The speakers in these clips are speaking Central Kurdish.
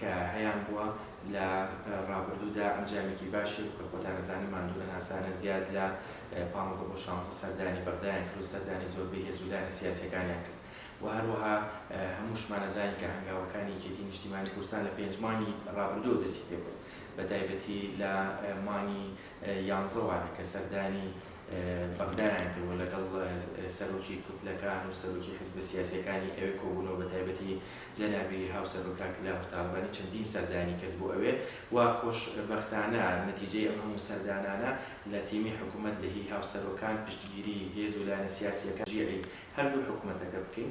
کە هەیان بووە لە ڕابردوودا ئەنجامێکی باشی هەبوو کە خۆتان ئەزانن ماندوو نەناسانە زیاد لە پانزدە بۆ شانزدە سەردانی بەغدایان کرد و سەردانی زۆربەی هێز و لایەنە سیاسیەکانیان کرد و هەروەها هەمووشمان ئەزانین کە هەنگاوەکانی یەکێتی نیشتیمانی کوردستان لە پێنج مانگی ڕابردووەوە دەستی پێکرد بەتایبەتی لە مانگی یانزەوە کە سەردانی بەغدایان کرد و لەگەڵ سەرۆکی کوتلەکان و سەرۆکی حزبە سیاسییەکانی ئەوێ کۆبوون و بەتایبەتی جەنابی هاوسەرۆک کاک لافت تاڵەبانی چەندین سەردانی کرد بۆ ئەوێ و خۆشبەختانە نەتیجەی ئەم هەموو سەردانانە لە تیمی حکوومەت لە هی هاوسەرۆکان پشتگیریی هێز و لایەنە سیاسییەکان جیعی هەردوو حکوومەتەکە بکەین.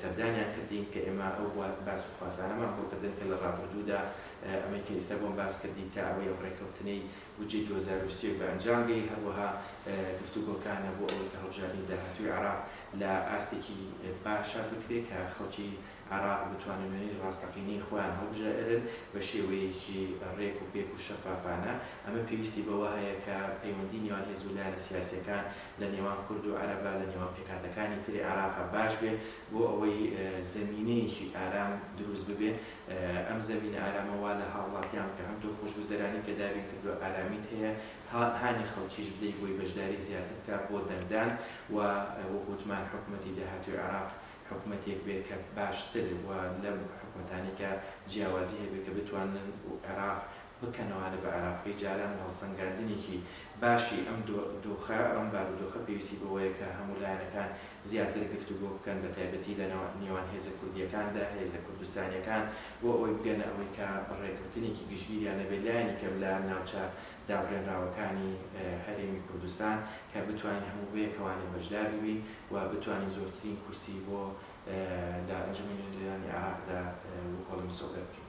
سەردانیان کردین، کە ئێمە ئەو باس و خواسانەمان بۆ کردن کە لە ڕابردوودا ئەمەی کە ئێستا بۆم باس کردی تا ئەوەی ئەم ڕێککەوتنەی بودجەی دوو هەزار و بیست و یەک بە ئەنجام گەی، هەروەها گفتوگۆکانە بۆ ئەوەی کە هەڵبژاردنی داهاتووی عێراق لە ئاستێکی باشا بکرێت کە خەڵکی عێراق بتوانن وێنەی ڕاستەقینەی خۆیان هەڵبژێرن بە شێوەیەکی ڕێک و پێک و شەفافانە، ئەمە پێویستی بەوە هەیە کە پەیوەندی نێوان هێز و لایەنە سیاسییەکان لە نێوان کورد و عەرەبە، لە نێوان پێکهاتەکانی تری عێراقە باش بێ بۆ ئەوەی زەمینەیەکی ئارام دروست ببێ. ئەم زەمینە ئارامە وا لە هاوڵاتیان بکە هەم تۆ خۆشگوزەرانی کە دابین کردووە ئارامیت هەیە، ها هانی خەڵکیش بدەی بۆی بەشداری زیاتر بکا بۆ دەنگدان و وەک وتمان حکومەتی داهاتووی عێراق حکومەتێک بێ کە باشتر و لەم حکومەتانەی کە جیاوازی هەبێ کە بتوانن عێراق بکەنەوانە بە عێراق بێ جاران هەڵسەنگاندنێکی باشی ئەم دۆخە ئەم بارودۆخە پێویستی بەوەیە کە هەموو لایەنەکان زیاتر گفتوگۆ بکەن بە تایبەتی لە نیوان هێزە کوردییەکاندا هێزە کوردستانییەکان بۆ ئەوەی بگەنە ئەوەی کە ڕێکەوتنێکی گشتگیریان نەبێت لایەنی کەم لە ناوچە دابڕێنراوەکانی هەرێمی کوردستان کە بتوانین هەموو بەیەکەوانە بەشدار ببین و بتوانین زۆرترین کورسی بۆ لە ئەنجومەنی نوێنەرانی عێراقدا وکۆڵە مسۆگەر بکەین.